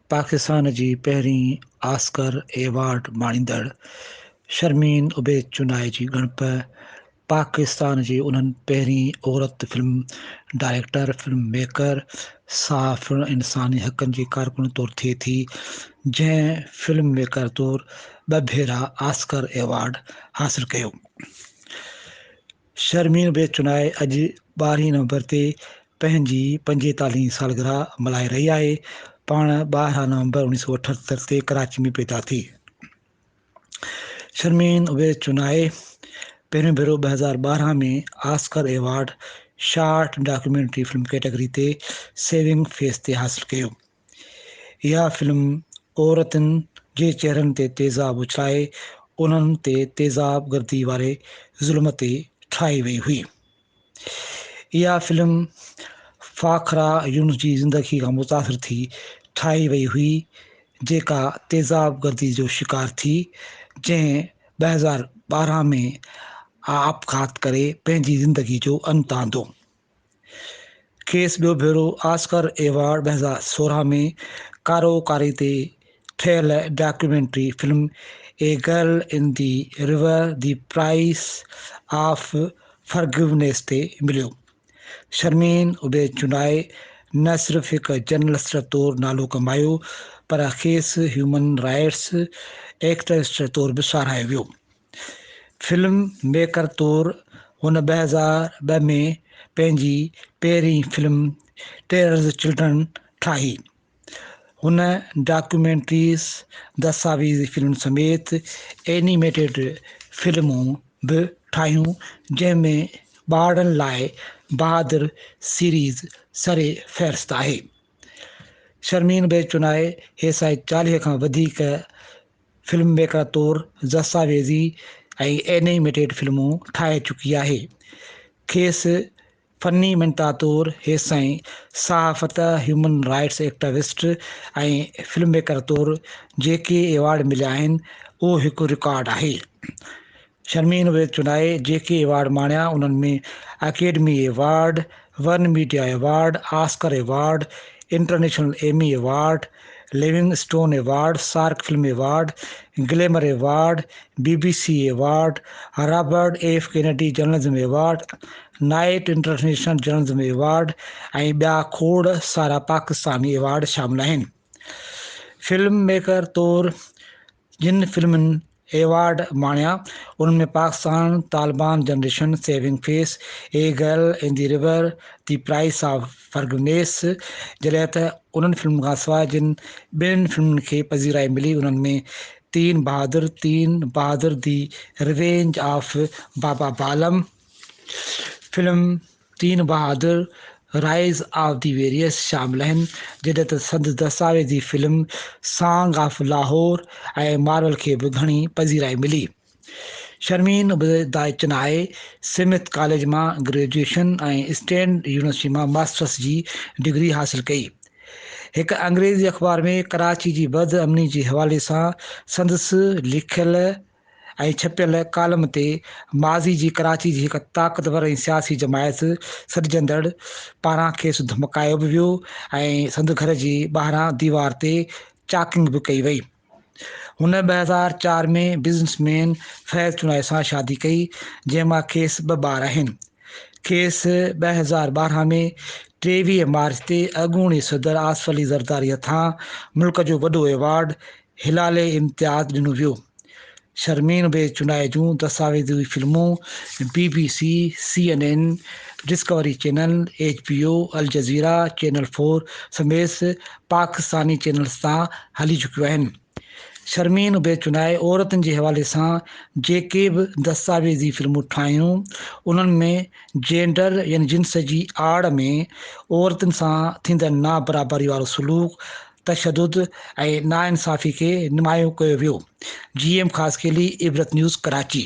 پاڪستان جي پهرين Oscar award ماڻيندڙ شرمين عبيد چنائي جي ڳڻپ پاڪستان جي انهن پهرين عورت فلم ڊائريڪٽر، فلم ميڪر، صحافي ۽ انساني حقن جي ڪارڪن طور ٿئي ٿي، جنهن فلم ميڪر طور ٻه ڀيرا آسڪر ايوارڊ حاصل ڪيو. شرمين بي چنائي اڄ ٻارهين نومبر تي پنهنجي پنجيتاليهين سالگرهه ملهائي رهي آهي. پاڻ ٻارهن نومبر اڻيهه سؤ اٺهتر تي ڪراچي ۾ پيدا ٿي. شرمين اويس چنائي پهريون ڀيرو ٻه هزار ٻارهن ۾ Oscar award short documentary film category تي سيونگ فيس تي حاصل ڪيو اها فلم عورتن جي چهرن تي تيزاب اڇلائي انهن تي تيزاب گردي واري ظلم تي ٺاهي وئي هئي اها فلم فاخره يونس جي زندگي کان متاثر ٿي ٺاهي وئي هئي جيڪا تيزاب گردي جو شڪار ٿي جنهن ٻه هزار ٻارهن ۾ آپگهات ڪري پنهنجي زندگي جو انت آندو. کيس ٻيو ڀيرو آسڪر ايوارڊ ٻه هزار سورهن ۾ ڪارو ڪاري تي ٺهيل documentary film A Girl in the River The Price of Forgiveness تي مليو. شرمين عبيد چنائي نه صرف هڪ جرنلسٽ طور نالو ڪمايو پر کيس هيومن رائيٽس ايڪٽوسٽ طور به ساراهيو ويو. فلم ميڪر طور هن ٻه هزار ٻه ۾ پنهنجي پهرين فلم ٽيررز چلڊرن ٺاهي. هن ڊاڪيومينٽريز، دستاويزي فلمن سميت اينيميٽيڊ فلمون به ٺاهيون جنهن ۾ ٻارڙن لاء بهادر سيريز سر فهرست آهي. شرمين بيچونائي هيسائي چاليهه کان وڌيڪ فلم ميڪرن طور دستاويزي ۽ اينيميٽيڊ فلمون ٺاهي چڪي آهي. کيس فني مينٽا طور هيسين صحافت، human rights activist ۽ film maker طور جيڪي ايوارڊ مليا آهن اهو هڪ رڪارڊ آهي. شرمين ويد چنائي جيڪي ايوارڊ ماڻيا انهن ۾ اڪيڊمي ايوارڊ، ورن media award, Oscar award, international Emmy award, Livingstone award, SAARC film award, glamour award, B B C award, Robert F Kennedy journalism award, Knight international journalism award ۽ ٻيا کوڙ سارا Pakistani award شامل آهن. Film maker طور جن فلمن award ماڻيا انهن ۾ Pakistan, Taliban generation, Saving Face, A Girl in the River, The Price of Forgiveness جڏهن ته انهن فلمن کان سواء جن ٻين فلمن کي پذيرائي ملي انهن ۾ تين بهادر، تين بهادر دي ريونج آف بابا بالم فلم، تين بهادر، Rise of the Various، شامل آهن، جڏهن ته سندس دستاويزي film song of Lahore ۽ Marvel کي به گهڻي پذيرائي ملي. شرمين به دائي چنائي سمٿ ڪاليج مان گريجوئيشن ۽ اسٽينڊ يونيورسٽي مان ماسٽرس جي ڊگري حاصل ڪئي. هڪ انگريزي اخبار ۾ ڪراچي جي بد امني جي حوالي سان سندس لکيل ۽ ڇپيل ڪالم تي ماضي جي ڪراچي جي هڪ طاقتور ۽ سياسي جماعت سڏجندڙ پاران کيس ڌمڪايو به ويو ۽ سندس گهر جي ٻاهران ديوار تي چاڪنگ به ڪئي وئي. هن ٻه هزار چار ۾ بزنس مين فيض چنائي سان شادي ڪئي، جنهن مان کيس ٻه ٻار آهن. کيس ٻه هزار ٻارهن ۾ ٽيويهه مارچ تي اڳوڻي صدر آصف علي زرداري هٿان ملڪ جو وڏو ايوارڊ هلال امتياز ڏنو ويو. شرمين به چونڊائي جون دستاويزي فلمون B B C, C N N, Discovery channel, H B O, Al Jazeera, channel four سميس پاڪستاني چينلز تان هلي چڪيون آهن. شرمين به چونڊائي عورتن جي حوالي سان جيڪي به دستاويزي فلمون ٺاهيون انهن ۾ جينڊر يعني جنس جي آڙ ۾ عورتن سان ٿيندڙ نابرابري وارو سلوڪ تشدد ۽ ناانصافي کي نمايون ڪيو ويو، G M Khaskheli Ibrat news Karachi.